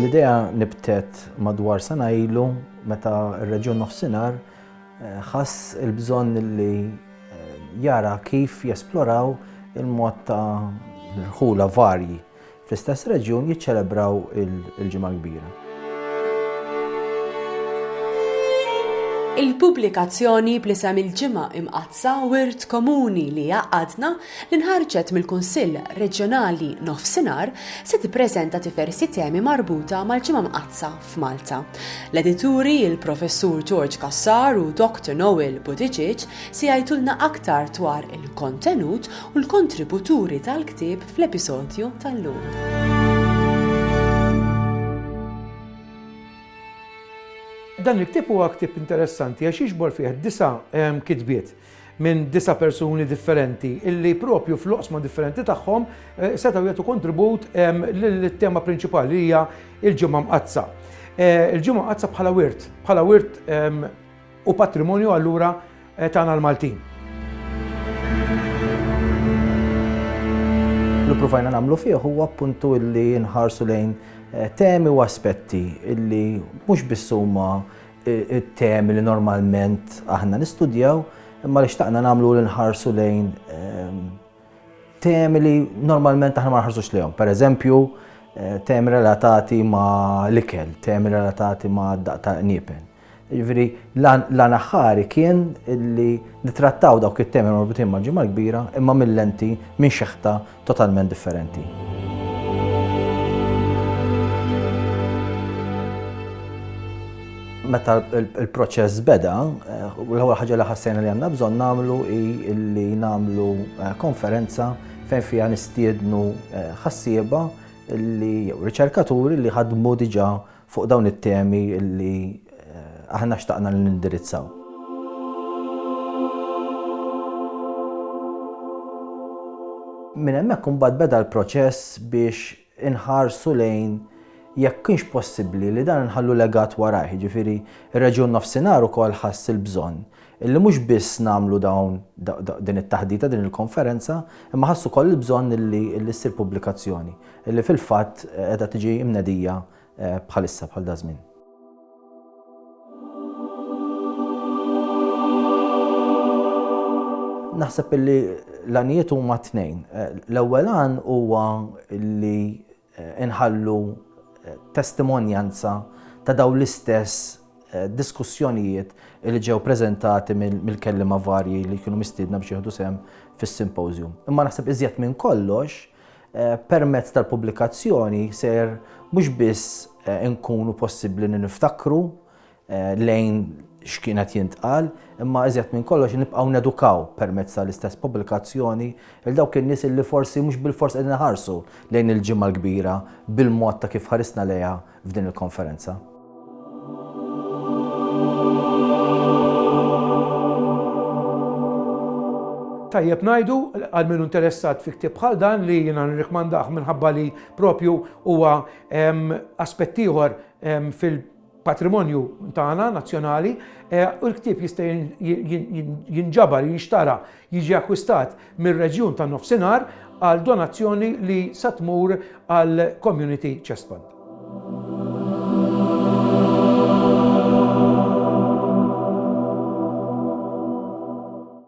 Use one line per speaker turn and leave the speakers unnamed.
L-idea nibtet madwar sena ilu meta r-Reġjun Nofsinhar eh, ħass il-bżonn li eh, jara kif jesploraw il-mod ta' l-ħula varji fl-istess reġjun jiċċelebraw il-Ġimgħa l-Kbira.
Il-pubblikazzjoni bl-isem Il-Ġimgħa Imqaddsa Wirt Komuni li Jgħaqqadna li nħarġet mill-Kunsill Reġjonali Nofsinhar se tippreżenta diversi temi marbuta mal-Ġimgħa Mqaddsa f'Malta. L-edituri, il-Professur George Cassar u Doctor Noel Buttigieg se jgħidulna aktar dwar il-kontenut u l-kontributuri tal-ktieb fl-episodju tal-lum.
Dan il-ktib huwa ktib interessanti għax jiġbor fih disa' ehm, kitbiet. minn disa' persuni differenti illi propju fl-oqsma differenti tagħhom setgħu jagħtu kontribut lit-tema prinċipali li hija l-Ġimgħa Mqaddsa. Il-Ġimgħa Mqaddsa bħala wirt, bħala wirt u patrimonju allura tagħna l-Maltin.
Li provajna nagħmlu fih huwa appuntu illi nħarsu lejn temi u aspetti illi mhux biss huma it-temi li normalment aħna nistudjaw, imma li xtaqna nagħmlu li nħarsu lejn ehm, temi li normalment aħna ma nħarsux lejhom. Per eżempju, eh, temi relatati ma' l-ikel, temi relatati ma' daq ta' niepen. Ġifieri l-anaħħari kien li nitrattaw dawk it-temi marbutin ma' ġimgħa kbira imma mill-lenti minn xeħta totalment differenti. Meta l-proċess beda, eh, l-ewwel ħaġa li ħassejna li għandna bżonn nagħmlu hi li nagħmlu eh, konferenza fejn fiha nistiednu eh, ħassieba li jew riċerkaturi li ħadmu diġà fuq dawn it-temi li aħna xtaqna li nindirizzaw. Minn hemmhekk imbagħad beda l-proċess biex inħarsu lejn jekk kienx possibbli li dan inħallu legat warajh, jiġifieri r-reġjun Nofsinhar ukoll ħass il-bżonn illi mhux biss nagħmlu dawn din it-taħdita, din il-konferenza, imma ħassu wkoll il-bżonn illi illi ssir pubblikazzjoni, illi fil-fatt qiegħda tiġi mnedija bħalissa bħal daż-żmien. Naħseb illi l-għanijiet huma tnejn. L-ewwel għan huwa illi inħallu testimonjanza ta' dawn l-istess diskussjonijiet li ġew preżentati mill-kelliema varji li kienu mistiedna biex jieħdu sehem fis-simpożjum. Imma naħseb iżjed minn kollox Eh, permezz tal-pubblikazzjoni ser mhux biss eh, nkunu possibbli niftakru eh, lejn x'kienet jintqal, imma iżjed minn kollox nibqgħu nedukaw permezz tal-istess pubblikazzjoni il dawk in-nies li forsi mhux bil-fors qegħdin ħarsu lejn il-ġimgħa l-kbira bil-mod ta' kif ħarisna lejha f'din il-konferenza.
Tajjeb najdu, għal minn interessat fi ktib bħal dan li jina nirrikmandaħ minħabba li propju huwa aspettiħor fil- patrimonju tagħna nazzjonali u l-ktieb jista' jinġabar, jinxtara, jiġi akkwistat mir-reġjun tan-Nofsinhar għal donazzjoni li sa tmur għal Community Chest Fund.